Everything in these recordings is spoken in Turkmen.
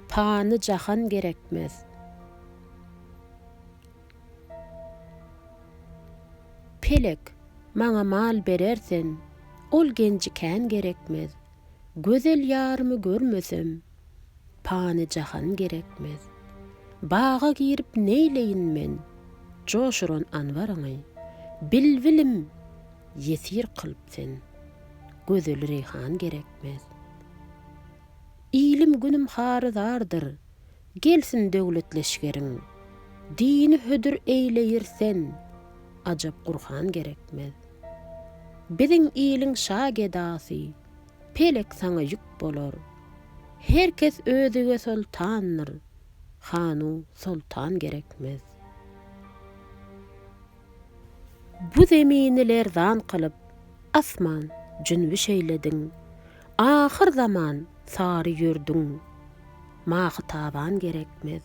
Pany jahan gerekmez. Pelek, maňa mal berer sen, Ol genji kän gerekmez. Gözel ýarymy görmesem, Pany jahan gerekmez. Baga girip neýleýin men, Joşuran anwaryňy, Bilbilim, ýesir kylyp sen, Gözel reýhan gerekmez. etmez. Ilim günüm harydardyr, gelsin döwlet leşgeriň, Dini hödür eýleýir sen, ajap Gurhan gerekmez. Biziň iliň şa gedasy, pelek saňa ýük bolar, Her kes özüge soltandyr, hanu soltan gerekmez. Bu zemini lerzan kylyp, asman jünbi şeýlediň. Ahyr zaman sary ýürdüň. Mahytaban gerekmez.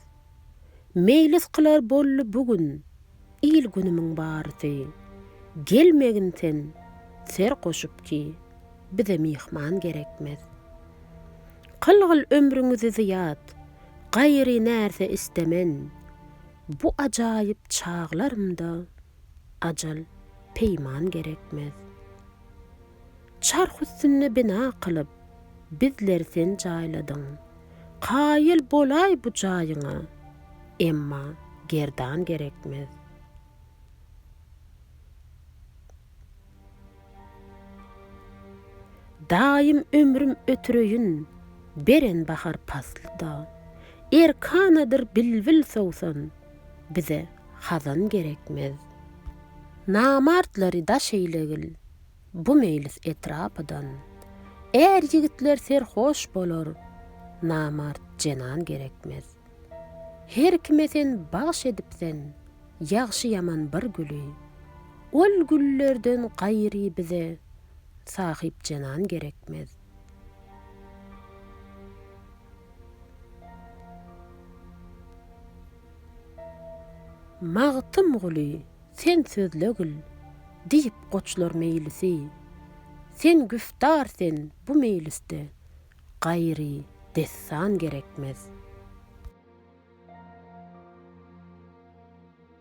Meýlis kylar bolly bu gün, il-günümiň barysy. Gelmegin sen ser goşup ki, bize myhman gerekmez. Kylgyl ömrüňizi zyýat, gaýry närse istemen. Bu ajaýyp çaglarymda ajal peýman gerekmez. Çarh üstünde bina kylyp, bizleri sen jaýladyň. Kaýyl bolaý bu jaýyňa, emma gerdan gerekmez. Daýym ömrüm ötüreýin, beren bahar paslyda. Erkanadyr bilbil sowsan, bize hazan gerekmez. Namartlary daş eýlegil, bu meýlis etrapydan. Är-ýigitler serhoş bolar, namart jenan gerekmez. Her kime sen bagş edipsen, ýagşy-ýaman bir güli. Ol güllerden gaýry bize sahypjenan gerekmez. Magtymguly, sen sözle gül, diýip goçlar meýlisi. Sen güftar sen bu meýlisde, Gaýry dessan gerekmez.